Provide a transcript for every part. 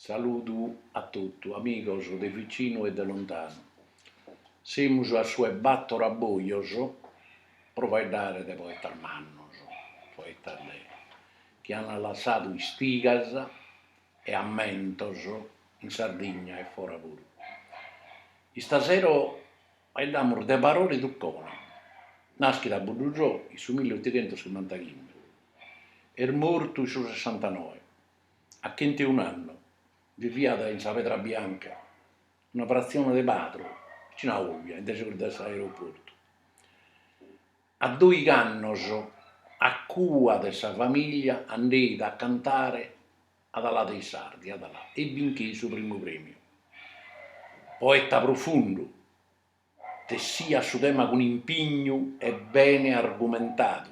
Saludu a totu, amigos de vicinu e de lontanu. Semus a su 'e bator abojos pro faeddare de poetas mannos, poetas de chi an lassadu istigas e ammentos in Sardigna e fora puru. Istasero Faeddamus de Barore Tucconi, naschit a Buddusò in su milli otighentos chimantachimbe, est mortu in su sessantanoe, a chenteun'annu, biviat in sa Pedra Bianca, una fratzione de Padru, vicinu a Olbia, in desegus de s'aeroportu. A doigh'annos, a cua de sa famìlia, andeit a cantare ad Alà dei Sardi, ad Alà, e bincheit su primu prèmiu. Poeta profundu, tessiat su tema cun impignu e bene argumentadu,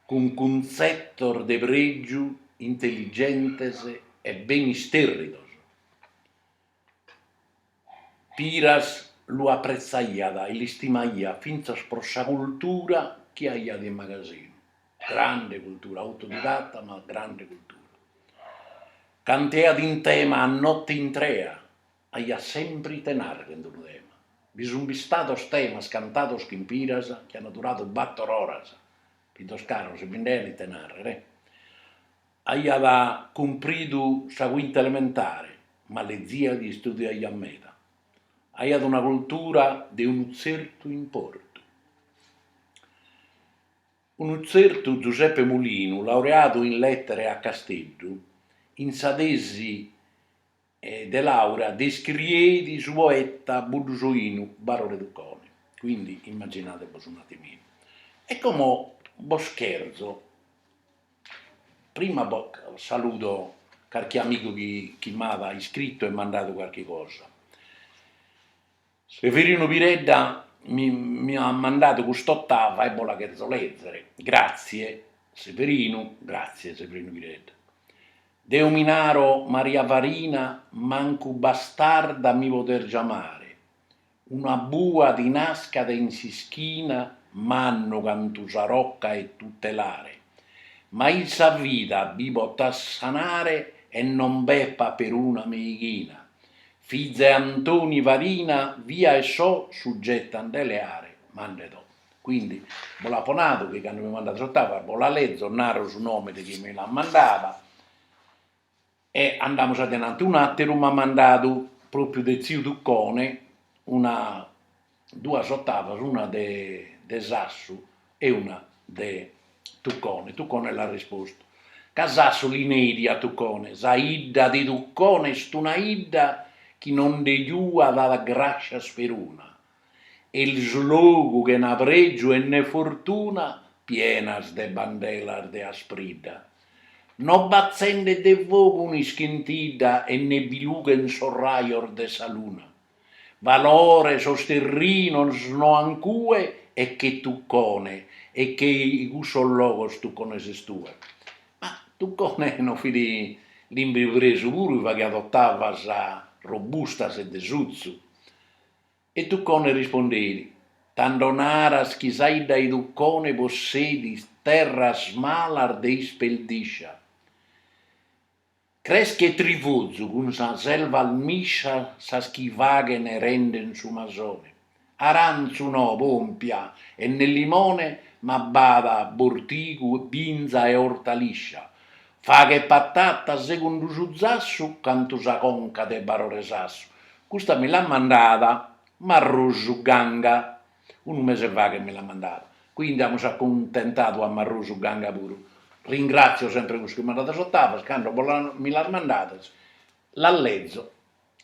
cun cuntzetos de prègiu intelligentes e bene istèrridos. Piras lu apretzaiat e l'istimaiat fintzas pro sa cultura chi aiat in magasinu, grande cultura, autodidatta ma grande cultura. Canteat in tema a notte intrea, aiat sempre ite narrer in d'unu tema, bi sun bistados temas cantados chin Piras chi an duradu battor oras, fizos caros bi nd'aian ite narrer. Aiat cumpridu sa quinta elementare, ma leziat e istudiaiat meda. Aiat una cultura de unu tzertu importu. Unu tzertu Giuseppe Mulinu, laureadu in Lettere a Casteddu, in sa tesi de laurea descrieit su poeta buddusoinu Barore Tucconi, quindi immaginadebos un atiminu, e como bos cherzo, prima saludo carchi amigu chi m'at iscritu e mandadu carchi cosa, Severinu Piredda mi at mandadu cust'ottava e bos la cherzo lezere. Gratzie Severinu. Gratzie Severinu Piredda. Deo mi naro Maria Farina mancu bastarda mi podes giamare, una bua ti nascat in s'ischina mannu cantu sa rocca 'e tutelare, mai in sa vida bi potas sanare e non b'epat peruna meighina, Fiza 'e Antoni Farina fia e so sugeta a nde leare ma nde do. Quindi bos l'apo nadu chi cando mi mandat s'ottava bos la lezo naro su nome de chie mi l'at mandada e andamus adenanti. Un'ateru m'at mandadu propriu de tziu Tuccone una duas ottavas una de Sassu e una de Tuccone, Tuccone l'at rispostu, ca Sassu li neit a Tuccone, sa 'idda de Tuccone est una 'idda chi non nde giuat grascias peruna, est logu chena pregiu e ne fortuna pienas de bandelas de aspridda, no b'atzendet de fogu un'ischentidda e ne bi lughent sos rajos de sa luna, Valore sos terrinos no an cue e che Tuccone e che cussos logos Tuccone ses tue. Ma Tuccone no fit limbipresu puru chi faghiat ottavas robustas e de sutzu. E Tuccone rispondeit, tando naras chi sa 'idda 'e Tuccone possedit terras malas de isperdiscia. Creschet trifozu cun sas ervas miscias sas chi faghen e renden su masone, arantzu no, pòmpia e ne limone ma b'at bortigu, binza e ortaliscia, faghet patata segundu su zassu cantu sa conca de Barore Sassu, custa mi l'at mandada Marrusu Ganga Unu mese faghet mi l'at mandada, quindi amus accuntentadu a Marrusu Ganga puru. Ringratzio sempre cussu chi mandat sas ottavas, cando bos la mi las mandades las lezo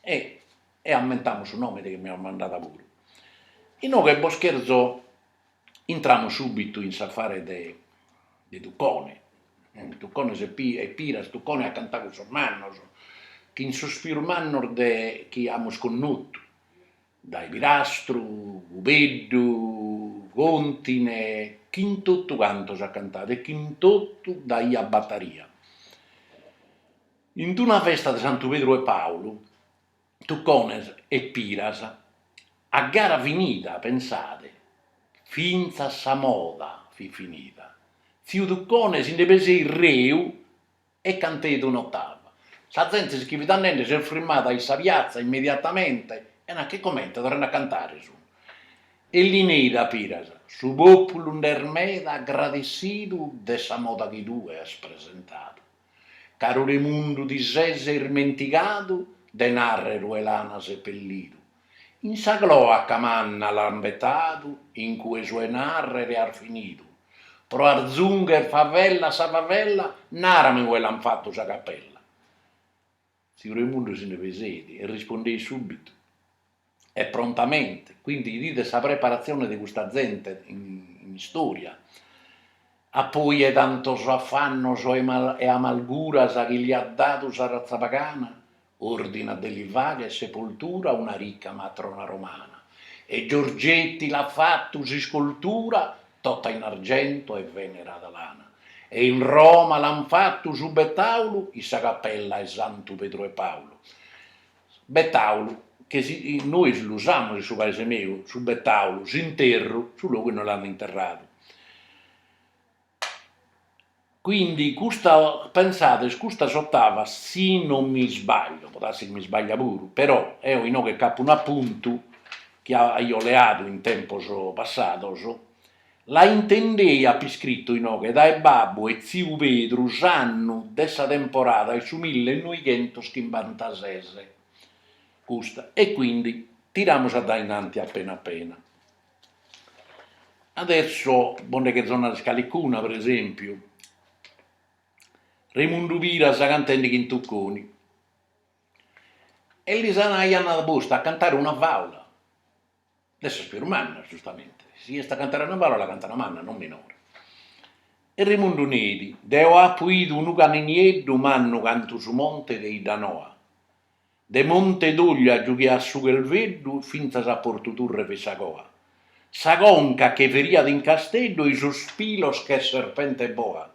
e e ammentamus su nomene chi mi l'at mandada puru. Inoghe bos cherzo intramus subitu in s'affare de de Tuccone, Tuccone e Pi e Piras, Tuccone at cantadu cun sos mannos, chin sos pius mannos de chi amus connotu, dae Pirastru, Cubeddu, Contine, chin totu cantos at cantadu e chin totu daiat bataria. In d'una festa de Santu Pedru e Paulu, Tuccone e Piras, a gara finida, pensade, fintzas sa moda fit finida, tziu Tuccone si nde peseit reu, E canteit un'ottava. Sa zente si che fit andende s'est frimmada in sa piatza immediatamente e nachi comente, torrende a cantare sun. E li neit a Piras, su populu nd'est meda agradessidu de sa moda chi tue as presentadu. Caru Remundu ti ses irmentigadu de narrer ue l'ana sepellidu, In sa cloaca manna l'an betadu in cue su 'e narrer' as finidu, pro arzungher favella a sa favella narami ue l'an fattu sa capella. Tziu Remundu si nde peseit e rispondeit subbitu e prontamente, quindi 'idides sa preparatzione de custa zente in istoria, appoi 'e tantos affannos e amalguras chi li at dadu sa razza pagana, Ordinat de li fagher sepoltura una rica matrona romana, e Giorgetti l'at fatu s'iscultura tota in argento e venerada l'ana, e in Roma l'ant fatu su betaulu in sa capella 'e Santu Pedru e Paulu. Betaulu, chi nois l'usamus in su paese meu, su betaulu, s'interru, su logu inue l'ant interradu. Quindi custa, pensades, custas ottavas si non mi sbaglio, può darsi chi mi sbaglia puru, però eo inoghe nc'apo un'apuntu chi aio leadu in tempos passados, la intendei, apo iscritu inoghe, dae babbu e tziu Pedru s'annu de sa temporada 'e su mille e noighentos chimbantases, custa, e quindi tiramus a dae innanti appena appena Adesso bos nde cherzo narrer calicuna, pre esempiu, Remundu Piras cantende chin Tucconi, e lis aiant postu a cantare una fàula de sas pius mannas, giustamente, si est a cantare una fàula la cantat manna, non minore, e Remundu neit, deo apo idu unu caninieddu mannu cantu su monte de Iddanoa, De Monte Doglia giughiat su chelveddu fintzas a Portu Turre fit sa coa. Sa conca che feriat in Casteddu ei sos pilos che serpente boa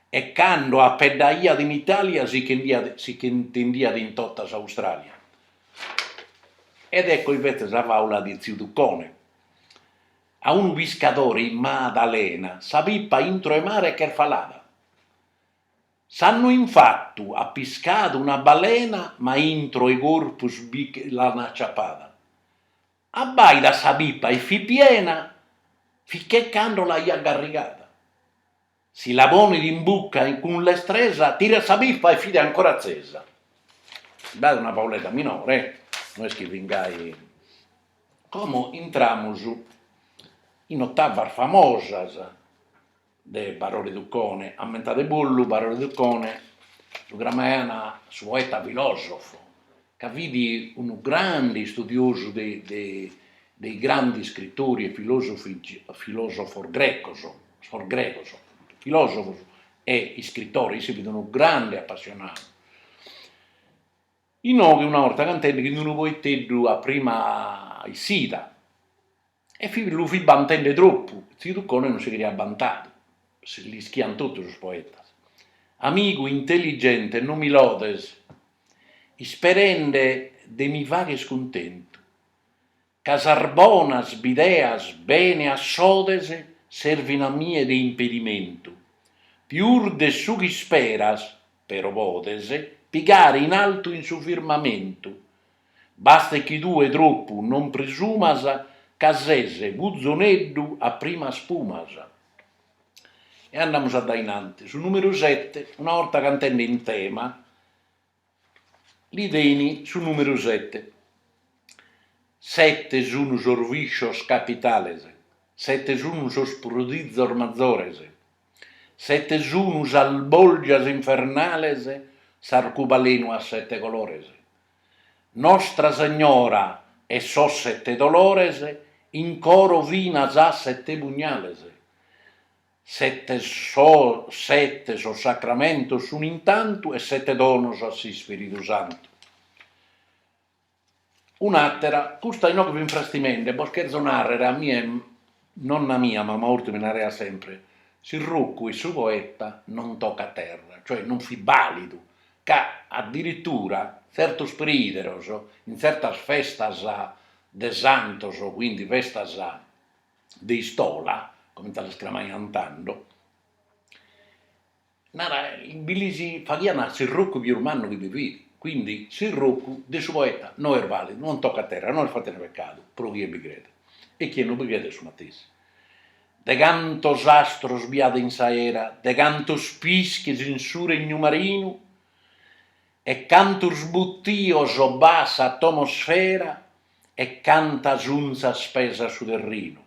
e cando apeddaiat in Italia si ch'intendiat in totta s'Australia. Ed ecco invece sa faula de tziu Tuccone. A unu piscadore in Madalena sa pipa intro 'e mare ch'est falada. S'annu infatu at piscadu una balena ma intro 'e corpus bi l'an aciapada. Abbaidat sa pipa e fit piena fit che cando l'aiat garrigada. Si la ponit in bucca e cun lestresa tirat sa pipa e fit ancora atzesa. B'at una fauledda minore eh, no est chi fin gai. Como intramus in ottavas famosas de Barore Tuccone, ammentadebollu, Barore Tuccone lu cramaiant su poeta filòsofu, ca fit unu grande istudiosu de de dei grandi iscritori e filòsofi filòsofos grecos, sos grecos, filòsofos e iscritores, isse fit unu grande apassionadu. Inoghe una 'orta cantende chin d'unu poeteddu a prima issida E lu fit bantende tropu, tziu Tuccone non si cheriat bantadu, l'ischiant totu sos poetas. Amigu intelligente non mi lodes, isperende de mi fagher cuntentu, ca sas bonas bideas bene assodes servin a mie de impedimentu, pius de su ch'isperas, però podes pigare in altu in su firmamentu, Bastet chi tue tropu non presumas ca ses puzoneddu a primas pumas. E andamus a dae in antis. Su numeru sete, una 'orta cantende in tema, li dein su numeru sete. Sete sun sos viscios capitales, sete sun sos prodizos mazores, sete sun sas bolgias infernales, s'arcubalenu at sete colores, Nostra Segnora 'e sos sette dolores in coro finas a sette pugnales, sette sos sacramentos sun in tantu e sette donos a s'Ispiridu Santu. Un'atera, custa inoghe fin frastimende, bos cherzo narrer a mie nonna mia, mamma Urti mi naraiat sempre, s'irrocu 'e su poeta non tocat terra, cioè non fit balidu ca addirittura tzertos priideros in tzertas festas de santos, quindi festas de istola, comente las cramaiant tando, naraiat, bi lis faghiant s'irrocu pius mannu chi bi fit, quindi s'irrocu de su poeta no est validu, non tocat terra, non est fattende peccadu pro chie bi credet e chie no bi credet su matessi. De cantos astros bi hat in s'aera, de cantos pischis in su regnu marinu, e cantos buttios b'hat s'atomosfera, e cantas unzas pesat su terrinu.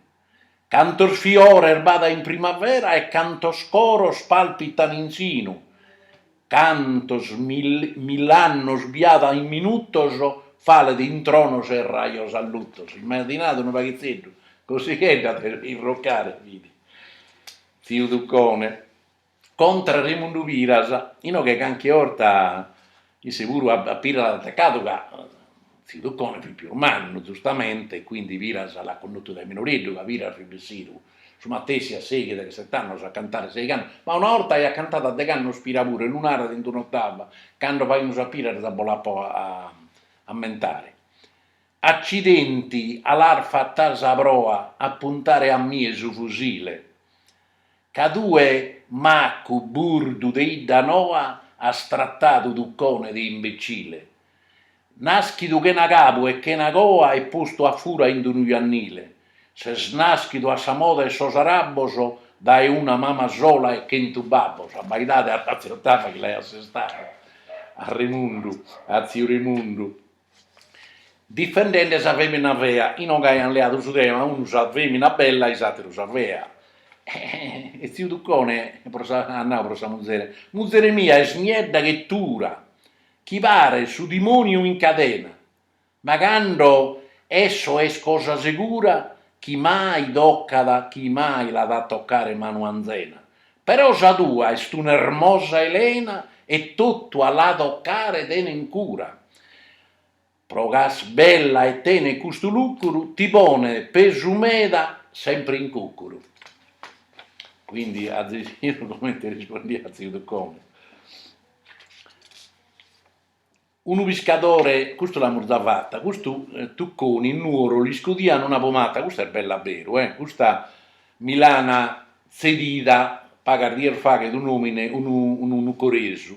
Cantos fiores b'hat in primavera, e cantos coros palpitan in sinu, Cantos mill'annos bi'at in minutos, falet in tronos e rajos allutos. Imaginade unu paghitzeddu, cosighedda a irrocare fit tziu Tuccone. Contra Remundu Piras, inoghe carchi 'orta isse puru a Piras l'at atacadu ca Tziu Tuccone fit pius mannu, giustamente, e quindi Piras l'at connotu dae minoreddu, ca Piras fit bessidu su matessi a seighi, deghesset'annos a cantare seigh'annos, ma una 'orta aiat cantadu a degh'annos Piras puru e lu narat in d'un'ottava, cando faimus a Piras bos l'apo a ammentare. Accidenti, a l'has fatta sa proa a puntare a mie su fusile, ca tue maccu burdu de 'Iddanoa has trattadu Tuccone de imbecile, Nàschidu chena cabu e chena coa e postu a fura in d'unu jannile, ses nàschidu a sa moda 'e sos arabos dae una mama sola e chentu babbos, abbaidade arratza 'e ottava chi l'aiat assestadu a Remundu, a tziu Remundu, difendende sa fèmina fea, inoghe aiant leadu su tema, unu sa fèmina bella e s'àteru sa fea, e tziu Tuccone pro sa at nau pro sa muzere, muzere mia est niedda che tura, chi paret su dimoniu in cadena, ma cando esso est cosa segura chi mai toccat chi mai l'at a toccare manu anzena, però sa tua est una ermosa Elena e totu a la toccare tenen cura, Pro ca est bella e tenet custu lucuru, ti ponet pesu meda sempre in cucuru. Quindi azzecino comente rispondiat tziu Tuccone. Unu piscadore, custu l'amus già fatta, custu Tucconi in Nuoro l'iscudian una pomata, custa est bella a beru, custa mi l'an tzedida pagas dies faghet un'omine, unu nugoresu,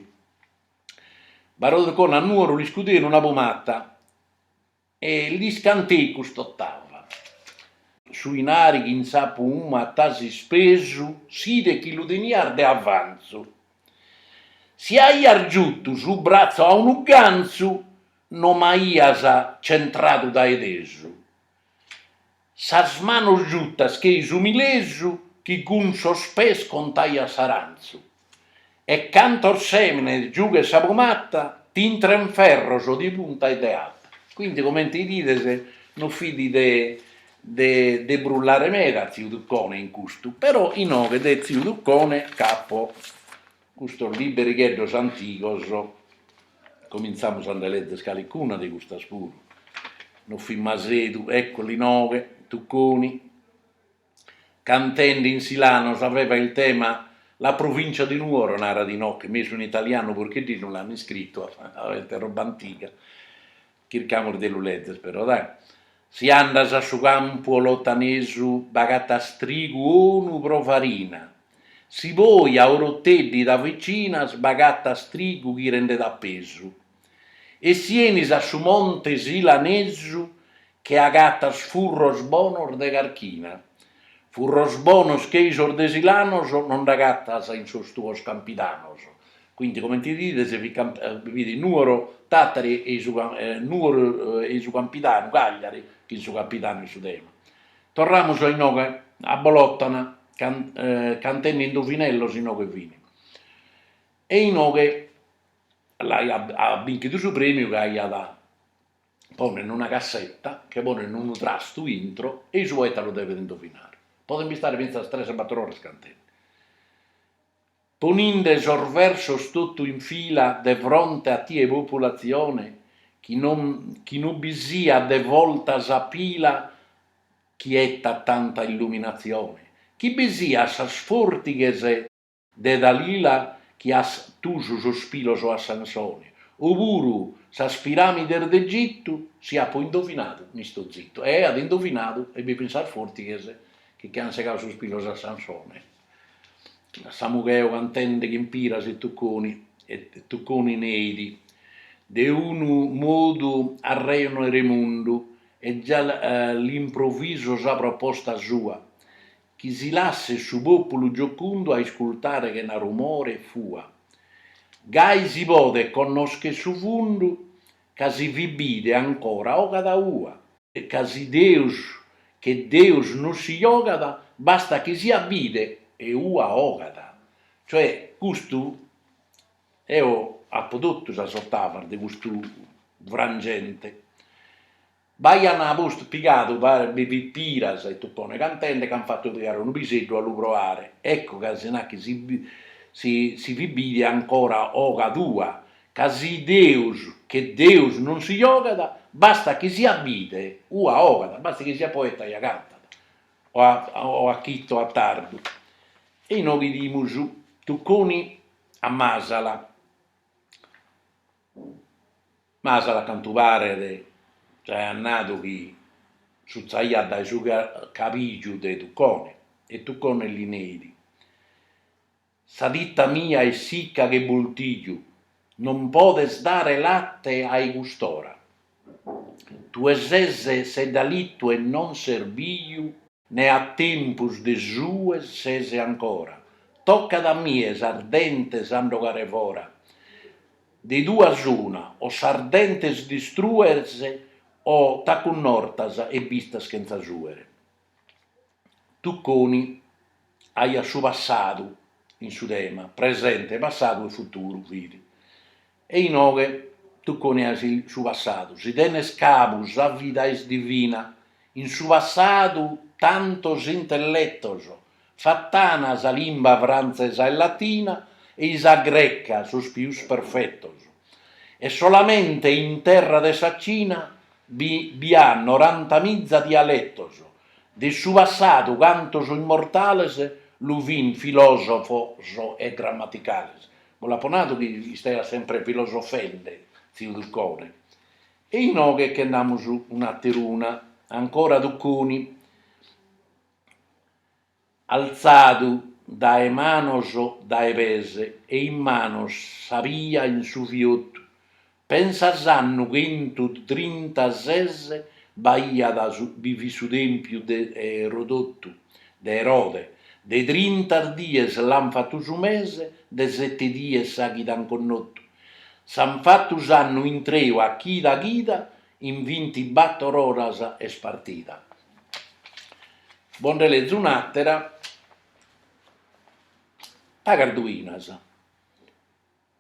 Barore Tuccone a Nuoru l'iscudein una pumata e lis canteit cust'otava. Su 'inari chi in sa pumata as ispesu si 'idet chi lu tenias de avanzu si aias giutu su bratzu a unu ganzu no m'aias centradu dae tesu Sas manos giutas chei su milesu chi cun sos pes contaiat s'arantzu e cantos semines giughet sa pomata t'intren ferros de punta e de ata. Quindi comente idides non fit de de de brullare meda tziu Tuccone in custu, però inoghe de tziu Tuccone ch'apo Custos liberigheddos antigos, comintzamus a nde lezzer calicuna de custas puru, no fit masedu, èccolu inoghe, Tucconi, cantende in Silanos aveva il tema La provincia di Nuoro, narat inoghe, mesu in italianu, perché no l'ant iscritu, est roba antiga, chircamus de lu lezzer però dai, si andas a su campu 'olotanesu b'agatas trigu onu pro farina, si poi a Oroteddi t'avvicinas b'agatas trigu chi rendet a pesu, e si 'enis a su monte Silanesu che agatas furros bonos de carchina, furros bonos chei sos de Silanos no nd'agatas in sos tuos campidanos, Quindi comente bides fit Nùoro Tàtari e Nùoro e su Campidanu, Cagliari, chin su Campidanu in su tema. Torramus a inoghe, a Bolotana, cantenni indovinellos inoghe fini. E inoghe l'aiat binchidu su premiu ca aiat ponen una cassetta, che ponen unu trastu intro e su poeta lu devet indovinare. Podent bistare fintzas tres bator oras cantenni. Poninde sos versos totu in fila de fronte a tie populatzione chi non bi siat de Volta sa pila chi 'ettat tanta illuminatzione chi bi siat sas fortighes de Dalila chi at tusu sos pilos a Sansone opuru sas piramides de Egittu si apo indovinadu m'isto zittu e aiat indovinadu e bi fin sas fortighes chi che an segadu sos pilos a Sansone. Samugheu cantende chin Piras e Tucconi e Tucconi neit, de unu modu arrejono Remundu e già l'improviso sa proposta sua, chi si lasset su pòpulu giocundu a iscultare chena rumore e fua, gai si podet connoschere su fundu ca si fit bide ancora 'ogat ua. ca si Deus che Deus non si jogat bastat chi siat bide e ua 'ogat, cioè custu eo apo totu sas ottavas de custu frangente, b'aian postu pigadu paret bi fit Piras e Tuccone cantende ch'an fatu pigare unu piseddu a lu proare, ecco ca si nachi si fit bide ancora 'ogat ua, ca si Deus che Deus non si jogat, bastat chi siat bide, ua 'ogat, bastat chi siat poeta ja cantat, o a chittu o a tardu, e inoghe idimus Tucconi a Masala, Masala cantu paret aiat nadu chi sutzaiat dae su cabìgiu de Tucconi e Tucconi li neit Sa titta mia est sicca che boltiju, non podes dare latte ai custora. Tue ses seddalittu e non ses biju. Ne a tempus de suer ses ancora. Toccat a mie sas dentes a nd'ogare fora. De duas una, o sas dentes distrues o t'acunnortas e bistas chentza suere. Tucconi aiat su passadu in su tema, presente, passadu e futuru fit. E inoghe Tucconi aiat su passadu, si tenes cabu sa vida est divina, in su passadu tantos intelletos Fat'ana sa limba frantzesa e latina, e i sa greca, sos pius perfetos. E solamente in terra de sa Cina bi at norantamiza dialetos, de su passadu cantos immortales lu fin filosofos e grammaticales. Bo l'apo nadu chi istaiat sempre filosofende tziu Tuccone. E inoghe che nd'amus un'ateruna, ancora Tucconi. Altzadu dae manos dae pes e in manos s'abia in su fiotu, pensa s'annu chentu trinta ses b'aiat bi fit su tempiu de Erodotu, de Erode, de trinta dies l'an fatu su mese, de sete dies sa chida an connotu, s'an fatu s'annu intreu a chida chida, in vintibator oras est partida. Bos nde lezo un'àtera, pagas duinas,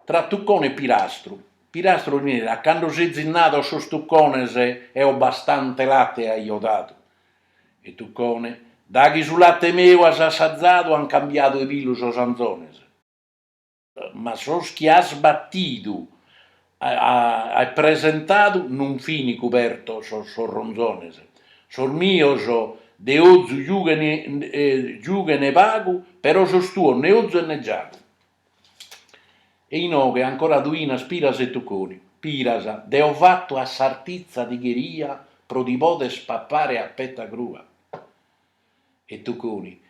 tra Tucone e Pirastru, Pirastru nerat cando sezis nadu a sos Tucones eo bastante late aio dadu, e Tucone, daghi su late meu as assazadu an cambiadu 'e pilu sos anzones. Ma sos chi as batidu e presentadu non fin cubertos sos ronzones, sos mios de ozu giughen pagu, però sos tuos ne ozu e ne giagu. E inoghe ancora duinas Piras e Tucconi, Piras, deo fatu a sartizza ti cheria pro ti poder pappare a petta crua e Tucconi,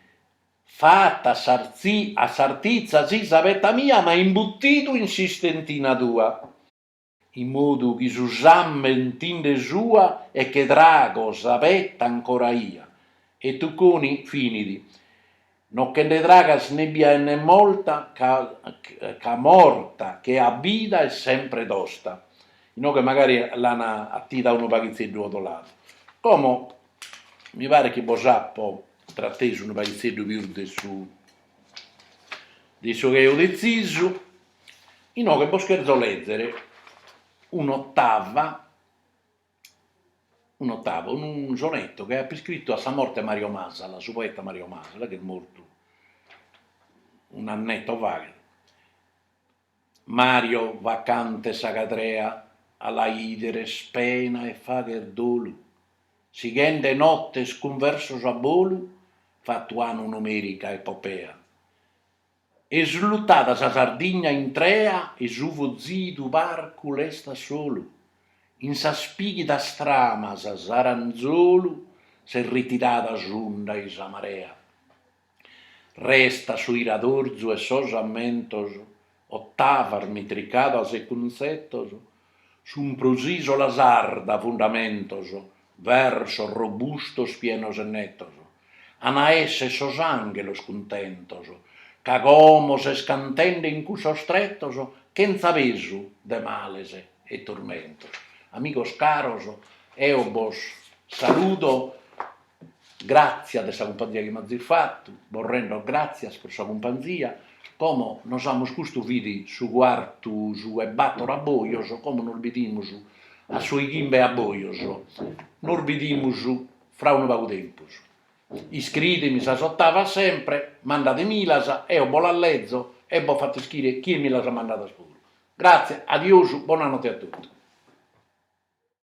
Fata a sartitza si sa peta mia ma imbutidu in s'istentina tua, in modu chi su sammen ti nde sua e che trago sa peta ancora ia, e Tucconi finit, no che nde tragas ne bia e ne morta ca morta che a vida est sempre tosta. Inoghe magari l'an atida unu paghitzeddu 'odoladu. Como Mi paret chi bos apo tratesu unu paghitzeddu pius de su de su chi aio detzisu, inoghe bos cherzo lèzere un'otava, un'otava, unu sonetto chi apo iscrittu a sa morte 'e Mario Masala, su poeta Mario Masala, chi est mortu un'anneto faghet Mario vacante sa cadrea a la ider est pena e faghet dolu sighende nottes cun versos a bolu fatu an un'omèrica epopea est lutada sa Sardigna intrea e su fozidu palcu restat solu in sas pighidas tramas s'aranzolu s'est ritirada s'unda ei sa marea Restat su iradorzu 'e sos ammentos, ottavas, mitricadas e cuntzetos, sun pro s'ìsola sarda fundamentos, versos robustos pienos e netos, an a èssere sos anghelos cuntentos, ca como ses cantende in cussos tretos, chentza pesu de males e turmentos. Amigos caros, eo bos saludo. Gràtzia de sa cumpanzia chi m'azis fatu, bos rendo gràtzias pro sa cumpanzia, como nos amus custu fit su cuartu su 'e bator a bojos, como nos bidimus a su 'e chimbe a bojos, nos bidimus fra unu pagu tempus. Iscridemi sas ottavas sempre, mandademilas, eo bos las lezo e bos fatzo ischire chie mi las at mandadas puru. Gràtzia, adiosu, bona notte a totu.